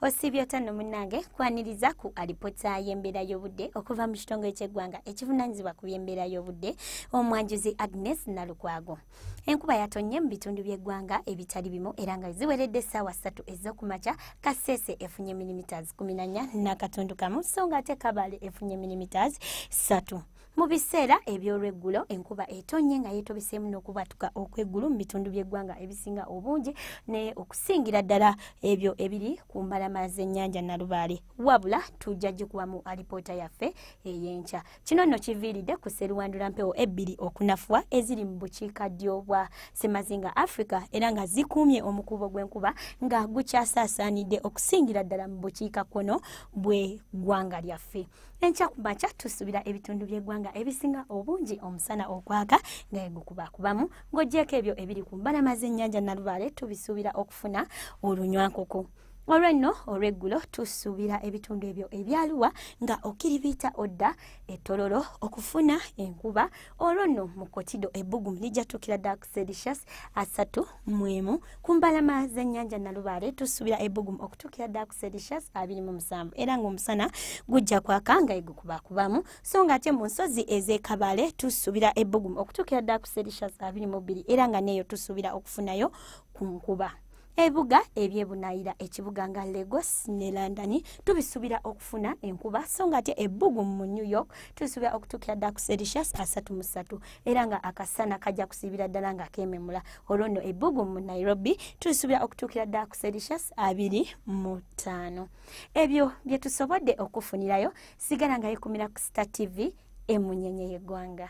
osiibye otya no munnange kwaniriza ku alipota y'embeera y'obudde okuva mu kitongole ky'eggwanga ekivunaanyizibwa ku by'embeera y'obudde omwanjuzi agnes nalukwago enkuba yatonye mu bitundu by'eggwanga ebitali bimu era nga ziweredde essaawa ssatu ez'okumakya kaseese efunye milimiters kumi nanya n'akatundu kamu so nga ate kabale efunye milimiters ssatu Mu biseera eby'olweggulo enkuba etonnye nga yeetobeseemu n'okubatuka okw'eggulu mu bitundu by'eggwanga ebisinga obungi ne okusingira ddala ebyo ebiri ku mbalama z'ennyanja Nalubaale. Wabula tujja gikubamu alipoota yaffe ey'enkya. Kino nno kiviiridde ku sseruwandula mpewo ebbiri okunafuwa eziri mu bukiika ddyo bwa Ssemazinga Africa era nga zikuumye omukuubo gw'enkuba nga gukyasaasaanidde okusingira ddala mu bukiika kkono bw'eggwanga lyaffe. enkya ku makya tusuubira ebitundu by'eggwanga ebisinga obungi omusana ogwaka nga yegukubakubamu ng'ogyeko ebyo ebiri ku mbalama z'ennyanja nalubaale tubisuubira okufuna olunywankoko olwenno olweggulo tusuubira ebitundu ebyo ebyaluwa nga okiribiita odda etololo okufuna enkuba olwo nno mu kotido ebbugumu lijja tukira dak sedicious asatu mwemu ku mbalama z'ennyanja nalubaale tusuubira ebbugumu okutuukira ddala ku sedishas abiri mu musanvu era ng'omusana gujja kwaka nga egukubakubamu so ng'ate mu nsozi ez'ekabale tusuubira ebbugumu okutuukira ddala ku sedishas abiri mu bbiri era nga neeyo tusuubira okufunayo ku nkuba ebibuga ebyebunayira ekibuga nga lagos ne london tubisuubira okufuna enkuba so nga ate ebbugu mu new york tubisuubira okutuukira dda ku sericious asatu mu ssatu era nga akasana kajja kusiibira ddala nga kememula olwo nno ebbugu mu nairobi tulisuubira okutuukira ddala ku celsius abiri mu ttaano ebyo bye tusobodde okufunirayo sigala nga yekumira ku star tv emunyenye y'eggwanga